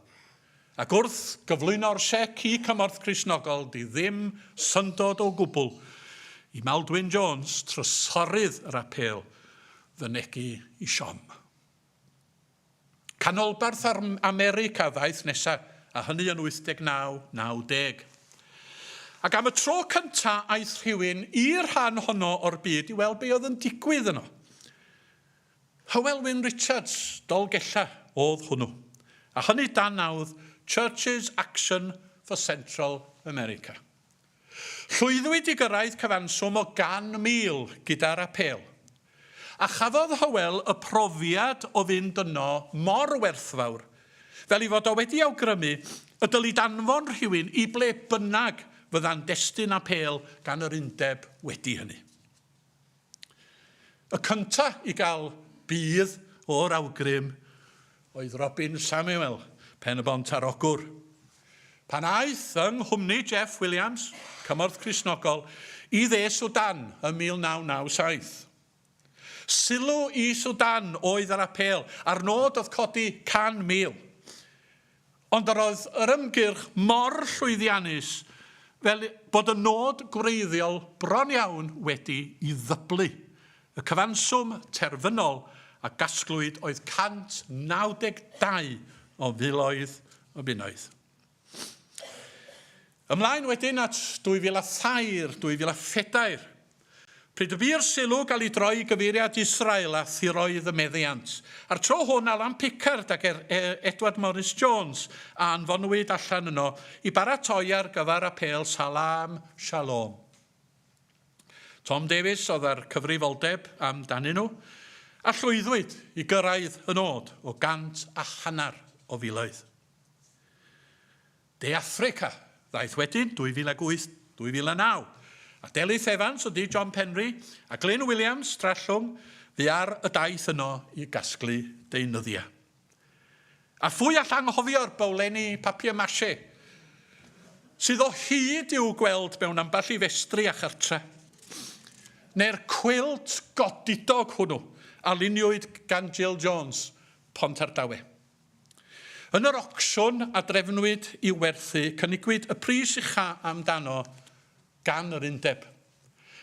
Ac wrth gyflwyno'r siec i Cymorth Cristnogol, dydy ddim syndod o gwbl i Maldwyn Jones, trysorydd yr apêl, fynegi i siom. Canolbarth America ddaeth nesa, a hynny yn 89, 90. Ac am y tro cynta aeth rhywun i'r rhan honno o'r byd i weld be oedd yn digwydd yno. Hywel Wyn Richards, Dolgella, oedd hwnnw. A hynny dan nawdd Churches Action for Central America. Llwyddwyd i gyrraedd cyfanswm o 100,000 gyda'r apêl. A chafodd Hywel y profiad o fynd yno mor werthfawr, fel ei fod o wedi awgrymu y dylid anfon rhywun i ble bynnag fydda'n destun apêl gan yr undeb wedi hynny. Y cynta i gael budd o'r awgrym oedd Robin Samuel, Pen-y-bont ar Ogwr. Pan aeth yng nghwmni Jeff Williams, Cymorth Cristnogol, i dde Sudan ym 1997. Sylw i Sudan oedd yr apêl, a'r nod oedd codi 100,000. Ond yr oedd yr ymgyrch mor llwyddiannus fel bod y nod gwreiddiol bron iawn wedi i ddyblu. Y cyfanswm terfynol a gasglwyd oedd 192 o filoedd o bunnoedd. Ymlaen wedyn at 2003, 2004, pryd y bu'r sylw gael ei droi i gyfeiriad Israel a thiroedd y meddiant. A'r tro hwn, Alan Pickard ac Edward Morris Jones a anfonwyd allan yno i baratoi ar gyfer apêl Salaam Shaloom. Tom Davies oedd â'r cyfrifoldeb am danyn nhw, a llwyddwyd i gyrraedd y nod o gant a hanner o filoedd. De Affrica, ddaeth wedyn 2008, 2009, a Delyth Evans a Dee John Penri a Glyn Williams, Trallwng, fu ar y daith yno i gasglu deunyddiau. A phwy all anghofio'r bowlenni papier mâché, sydd o hyd i'w gweld mewn ambell i festri a chartre'? Neu'r cwilt godidog hwnnw a luniwyd gan Jill Jones, Pontardawe? Yn yr ocsiwn a drefnwyd i'w werthu, cynigiwyd y pris ucha' am dano gan yr undeb,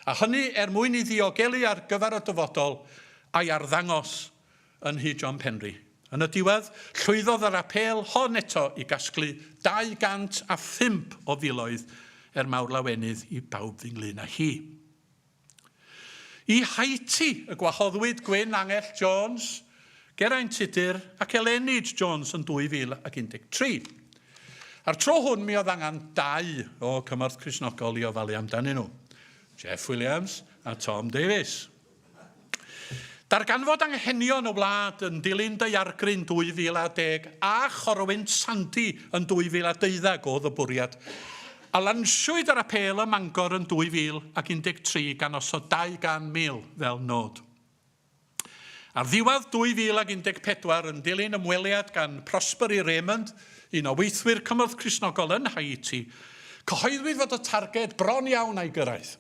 a hynny er mwyn i ddiogelu ar gyfer y dyfodol a'i arddangos yn nhŷ John Penri. Yn y diwedd, llwyddodd yr apêl hon eto i gasglu 205 o filoedd er mawr lawenydd i bawb ynglŷn â hi. I Haiti y gwahoddwyd Gwyn Angell Jones, Geraint Tudur ac Elenid Jones yn 2013. A'r tro hwn mi oedd angen dau o Cymorth Cristnogol i ofalu amdanyn nhw, Jeff Williams a Tom Davies. Darganfod anghenion y wlad yn dilyn daeargryn 2010 a chorwynt Sandy yn 2012 oedd y bwriad, a lansiwyd ar apêl ym Mangor yn 2013 gan osod 200,000 fel nod. Ar ddiwedd 2014, yn dilyn ymweliad gan Prospery Raymond, un o weithwyr cymorth Cristnogol yn Haiti, cyhoeddwyd fod y targed bron iawn a'i gyrraedd,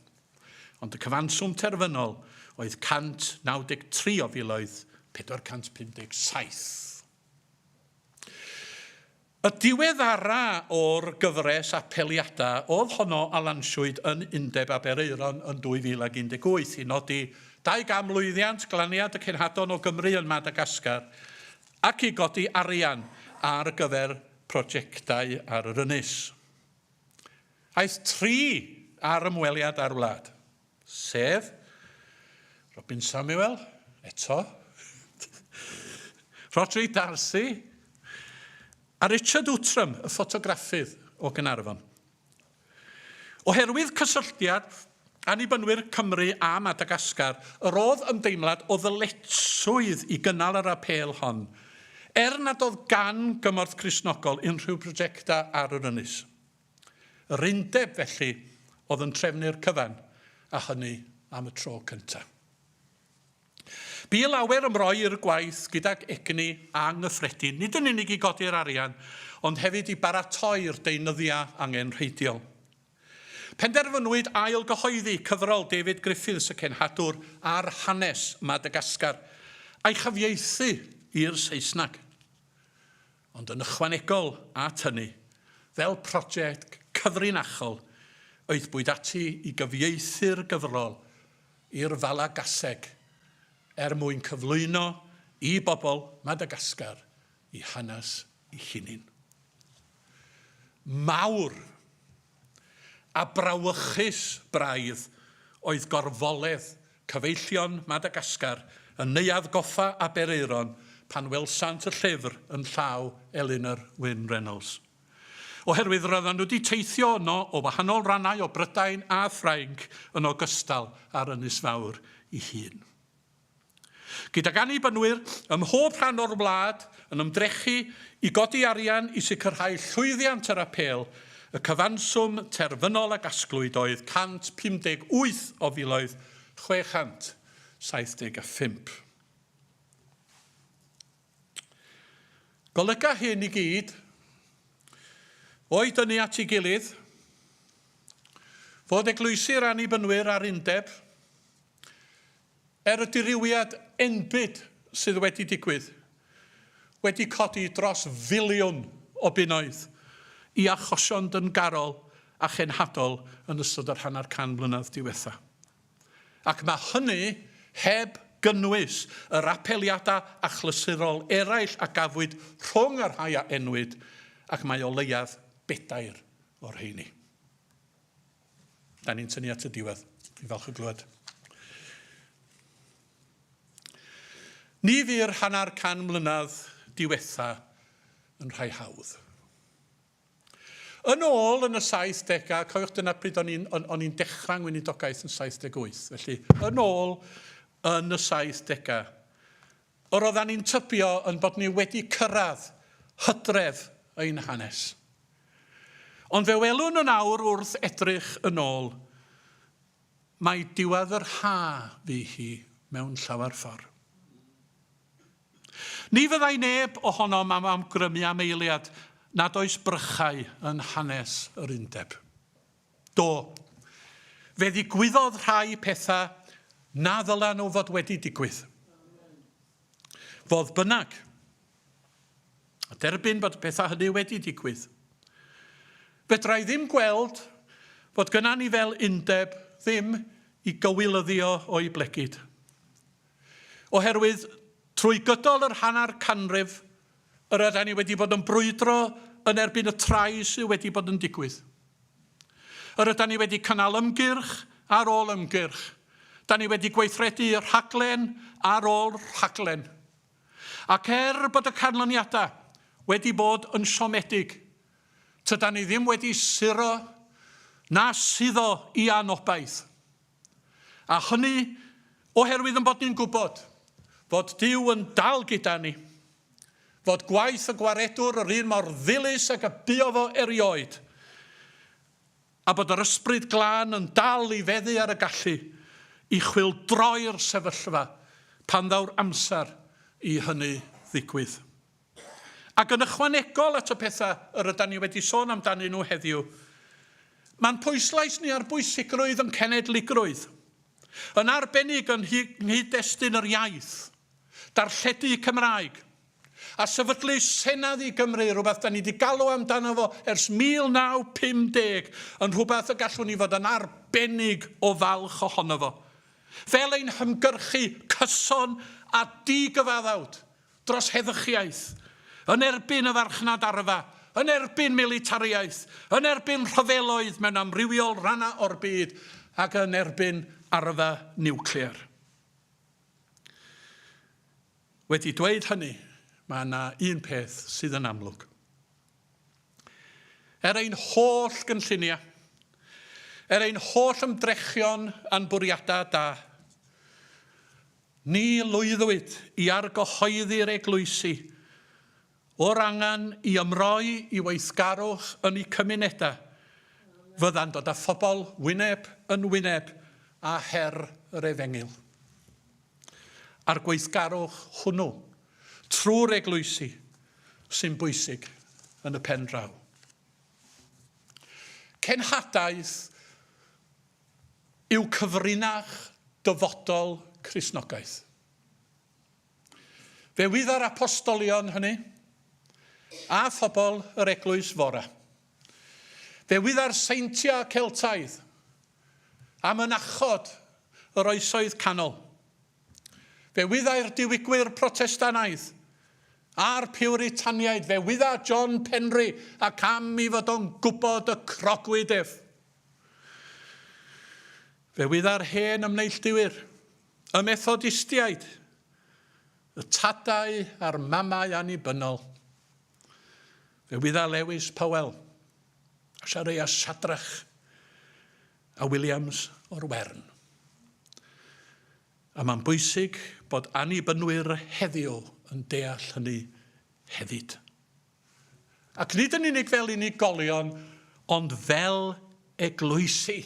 ond y cyfanswm terfynol oedd 193 o filoedd 457. Y diweddara o'r gyfres apeliadau oedd honno a lansiwyd yn Undeb Aberaeron yn 2018 i nodi 200 lwyddiant glaniad y cenhadon o Gymru yn Madagascar ac i godi arian ar gyfer projectau ar yr ynys. Aeth tri ar ymweliad â'r wlad. Sef, Robin Samuel, eto, Rhodri Darcy a Richard Outram, y ffotograffydd o Gaernarfon. Oherwydd cysylltiad Annibynwyr Cymru â Madagascar, yr oedd ymdeimlad o ddyletswydd i gynnal yr apêl hon, er nad oedd gan gymorth Cristnogol unrhyw brojectau ar yr ynys. Yr undeb, felly, oedd yn trefnu'r cyfan, a hynny am y tro cyntaf. Bu lawer ymroi i'r gwaith gydag egni anghyffredin, nid yn unig i godi'r arian, ond hefyd i baratoi'r deunyddiau angenrheidiol. Penderfynwyd ail gyhoeddi cyfrol David Griffiths, y cenhadwr, ar hanes Madagascar, a'i chyfieithu i'r Saesneg. Ond yn ychwanegol at hynny, fel project cyfrinachol, aethpwyd ati i gyfieithu'r gyfrol i'r Falagaseg er mwyn cyflwyno i bobl Madagascar i hanes i hunin. Mawr! a brawychus braidd oedd gorfoledd cyfeillion Madagascar yn Neuadd Goffa Aberaeron pan welsant y llyfr yn llaw Elinor Wyn Reynolds. Oherwydd roeddan nhw 'di teithio yno o wahanol rannau o Brydain a Ffrainc yn ogystal â'r Ynys Fawr 'i hun. gydag Annibynwyr ym mhob rhan o'r wlad yn ymdrechu i godi arian i sicrhau llwyddiant yr apêl, y cyfanswm terfynol a gasglwyd oedd 158 o filoedd 675. Golyga hyn i gyd, o'u dynnu at ei gilydd, fod eglwysi'r Annibynwyr a'r Undeb, Er y dirywiad enbyd sydd wedi digwydd, wedi codi dros filiwn o bunnoedd i achosion dyngarol a chenhadol yn ystod yr hanner can mlynedd diwetha', ac mae hynny heb gynnwys yr apeliadau achlysurol eraill a gafwyd rhwng y rhai a enwyd, ac mae o leiaf bedair o'r rheiny. Da ni'n tynnu at y diwedd. Dwi'n falch o glywed. Ni fu'r hanner can mlynedd diwetha yn rhai hawdd. Yn ôl yn y 70au, cofiwch dyna pryd o'n i'n on, on dechrau ngweinidogaeth yn 78, felly yn ôl yn y 70au, Yr oeddan ni'n tybio yn bod ni wedi cyrraedd hydref ein hanes. Ond fe welwn yn awr wrth edrych yn ôl, mai diwedd yr ha fu hi mewn llawer ffordd. Ni fyddai neb ohonom am amgrymu am eiliad nad oes brychau yn hanes yr Undeb. Do. Fe ddigwyddodd rhai pethau na ddylen nhw fod wedi digwydd. Fodd bynnag, a derbyn bod y pethau hynny wedi digwydd, fedra i ddim gweld fod gyna ni fel undeb ddim i gywilyddio o'i blegid. Oherwydd, trwy gydol yr hanner canrif Yr ydan ni wedi bod yn brwydro yn erbyn y trais sydd wedi bod yn digwydd. Yr ydan ni wedi cynnal ymgyrch ar ôl ymgyrch. Da ni wedi gweithredu rhaglen ar ôl rhaglen. Ac er bod y canlyniadau wedi bod yn siomedig, tydan ni ddim wedi suro na suddo i anobaith. A hynny oherwydd yn bod ni'n gwybod fod Duw yn dal gyda ni, fod gwaith y Gwaredwr yr un mor ddilys ag y buo fo erioed, a bod yr Ysbryd Glân yn dal i feddu ar y gallu i chwyldroi'r sefyllfa pan ddaw'r amser i hynny ddigwydd. Ac yn ychwanegol at y pethau yr ydan ni wedi sôn amdanyn nhw heddiw, mae'n pwyslais ni ar bwysigrwydd yn cenedligrwydd, yn arbennig yn nghyd-destun yr iaith, darlledu Cymraeg, a sefydlu Senedd i Gymru, rhywbeth da ni wedi galw amdano fo ers 1950, yn rhywbeth y gallwn ni fod yn arbennig o falch ohono fo, fel ein hymgyrchu cyson a di-gyfaddawd dros heddychiaeth, yn erbyn y farchnad arfa, yn erbyn militariaeth, yn erbyn rhyfeloedd mewn amrywiol rannau o'r byd ac yn erbyn arfa niwclear. Wedi dweud hynny, mae yna un peth sydd yn amlwg. Er ein holl gynlluniau, er ein holl ymdrechion a'n bwriadau da, Ni lwyddwyd i argyhoeddi'r eglwysi o'r angen i ymroi i weithgarwch yn eu cymunedau, fyddan dod â phobl wyneb yn wyneb â her yr efengyl. A'r gweithgarwch hwnnw, trwy'r eglwysi, sy'n bwysig yn y pen draw. Cenhadaeth yw cyfrinach dyfodol Cristnogaeth. Fe wydda'r apostolion hynny, a phobl yr Eglwys Fore. Fe wydda'r seintiau Celtaidd a mynachod yr Oesoedd Canol. Fe wyddai'r diwygwyr Protestanaidd a'r Piwritaniaid. Fe wydda John Penry ac am i fod o'n gwybod y crogwyd ef. Fe wydda'r hen ymneillduwyr, y Methodistiaid, y tadau a'r mamau annibynnol. Fe wydda Lewis Powell, a siareu a Sadrach, a Williams o'r Wern. A mae'n bwysig bod annibynwyr heddiw yn deall hynny hefyd. Ac nid yn unig fel unigolion, ond fel eglwysi.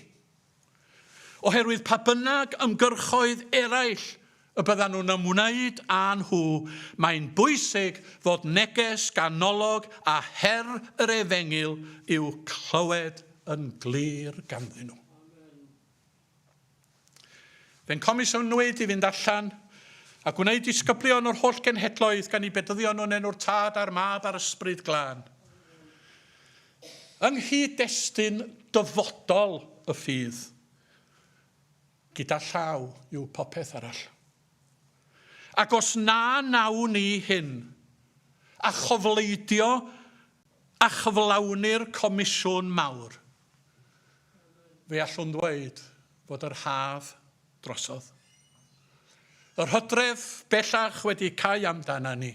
Oherwydd pa bynnag ymgyrchoedd eraill y byddan nhw'n ymwneud â nhw, mae'n bwysig fod neges ganolog a her yr efengyl i'w clywed yn glir ganddyn nhw. Fe'n comisiynwyd i fynd allan a gwneud disgyblion o'r holl genhedloedd gan i bedyddio nhw'n enw'r Tad a'r Mab a'r Ysbryd Glân. Yng nghyd-destun dyfodol y ffydd, gyda llaw yw popeth arall. Ac os na nawn ni hyn, a chofleidio a chyflawni'r comisiwn mawr, Fe allwn ddweud fod yr haf drosodd. Yr hydref bellach wedi cau amdana ni,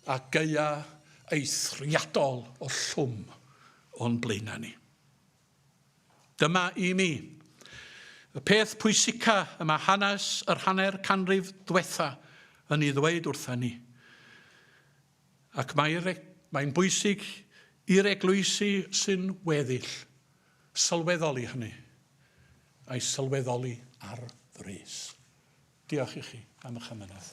a gaea eithriadol o llwm o'n blaenau ni. Dyma i mi, y peth pwysica y mae hanes yr hanner canrif dwetha yn ei ddweud wrtha ni. Ac mae'r e-, mae'n bwysig i'r eglwysi sy'n weddill sylweddoli hynny, a'i sylweddoli ar frys. Diolch i chi am eich ymunodd.